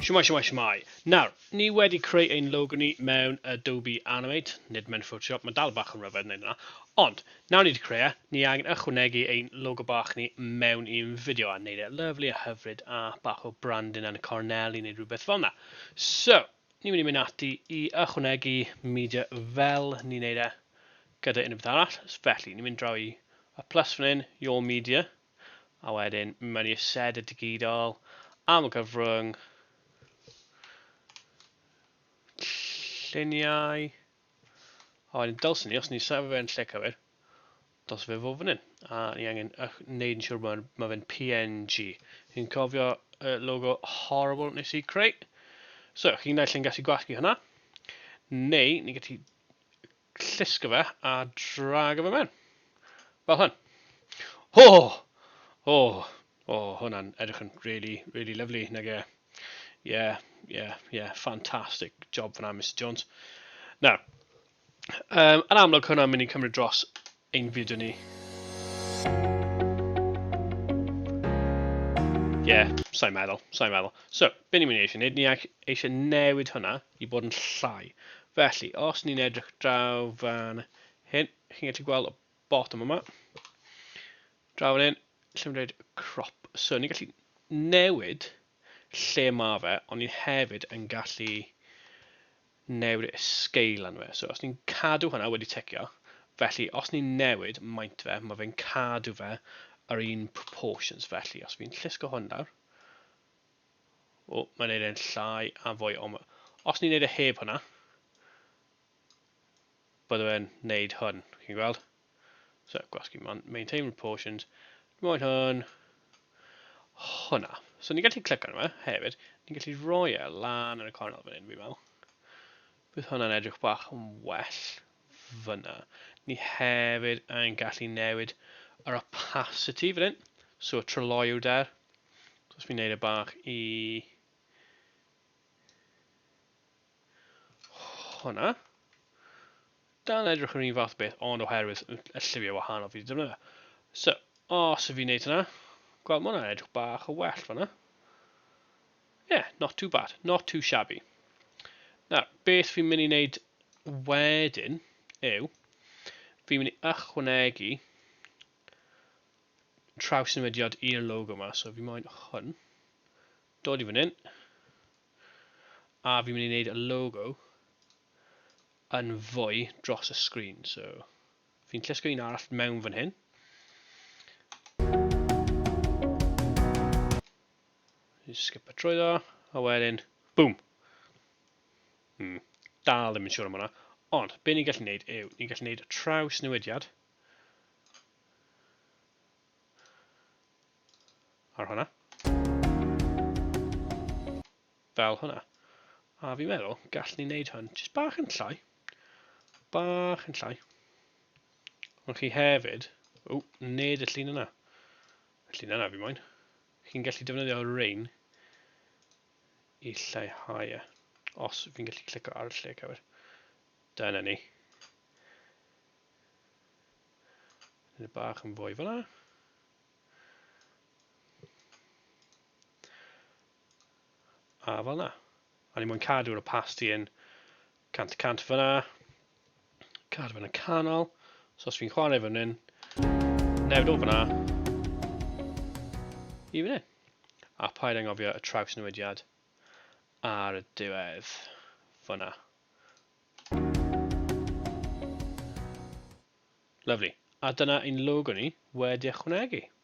Shwmai, shwmai, shwmai. Nawr, ni wedi creu ein logo ni mewn Adobe Animate, nid mewn Photoshop, mae dal bach yn rhyfedd wneud yna. Ond, nawr ni wedi creu e, ni angen ychwanegu ein logo bach ni mewn i'n fideo a wneud e lyflu a hyfryd a bach o brandin yn y cornel i wneud rhywbeth fel yna. So, ni'n mynd i mynd ati i ychwanegu media fel ni'n wneud e. gyda unrhyw beth arall, felly ni'n mynd draw i y plus fan hyn, your media, a wedyn mynd mewn i set y digidol, am y cyfrwng, lluniau, a wedyn dylsyn ni, os ni'n sefyll fe'n lle cywir, dylsyn fe fod fan hyn, a ni angen gwneud yn siŵr bod mae fe'n PNG. Ni'n cofio y logo horrible nes i creu. So, chi'n naill yn gallu gwasgu hynna, neu ni'n gallu Llusga fe a draga fe mewn. Fel hyn. O! O! O, hwnna'n edrych yn really, really lovely, nag e? Ie, ie, ie, fantastic job fan'na, Mister Jones. Nawr, um, yn amlwg hwnna'n mynd i cymryd dros ein fyd yn ni. Ie, yeah, sa'n meddwl, sa'n meddwl. So, be ni'n mynd i eisiau gwneud? Ni eisiau newid hwnna i bod yn llai. Felly, os ni'n edrych draw fan hyn, chi'n gallu gweld y bottom yma. Draw fan hyn, lle mae'n dweud crop. So, ni'n gallu newid lle mae fe, ond ni'n hefyd yn gallu newid y sgeil arno fe. So os ni'n cadw hwnna wedi ticio, felly os ni'n newid maint fe, mae fe'n cadw fe yr un proportions. Felly os fi'n llusgo hwn lawr, o, mae'n neud e'n llai a fwy o... Os ni'n neud e heb hwnna, bydde fe'n neud hwn, chi'n gweld? So, gwasgu man, maintain proportions. Dwi'n moyn hwn. Hwna. So, ni'n gallu clic arno fe hefyd. Ni'n gallu roi e lan yn y cornel fan hyn, fi'n meddwl. Bydd hwnna'n edrych bach yn well fyna. Ni hefyd yn gallu newid yr opacity fan hyn. So, y tryloiw der. So, os fi'n neud e bach i... hwnna. Da'n edrych yn un fath beth, ond oherwydd y llyfio wahanol fi wedi defnyddio. So, os y fi'n neud hwnna, gweld mwna edrych bach o well fanna. Yeah, not too bad, not too shabby. Nawr, beth fi'n mynd i wneud wedyn yw, fi'n mynd i ychwanegu traws newidiad i'r logo yma, so fi moyn hwn, Dod i fan hyn. A fi'n mynd i wneud y logo yn fwy dros y sgrin. So, fi'n llusgo un arall mewn fan hyn. Just skip y trwy ddo. A wedyn, boom! Hmm, dal ddim yn siŵr am hwnna. Ond, be ni'n gallu gwneud yw, ni'n gallu gwneud traws newidiad. Ar hwnna. Fel hwnna. A fi'n meddwl, gallwn ni wneud hwn jyst bach yn llai. Bach yn llai. Ond chi hefyd... O, nid y llun yna. Y llun yna fi moyn. Chi'n gallu defnyddio rain i lleihau e. Os fi'n gallu clicio ar y lle cywir. Dyna ni. Nid bach yn fwy fyna. A fel na. A ni mwyn cadw'r opacity yn 100% fyna. Cadw fy'n y canol. So os fi'n chwarae fan hyn, newid o fyna i fan hyn. A paid angofio y traws newidiad ar y diwedd fyna. Lyfli. A dyna ein logo ni wedi ychwanegu.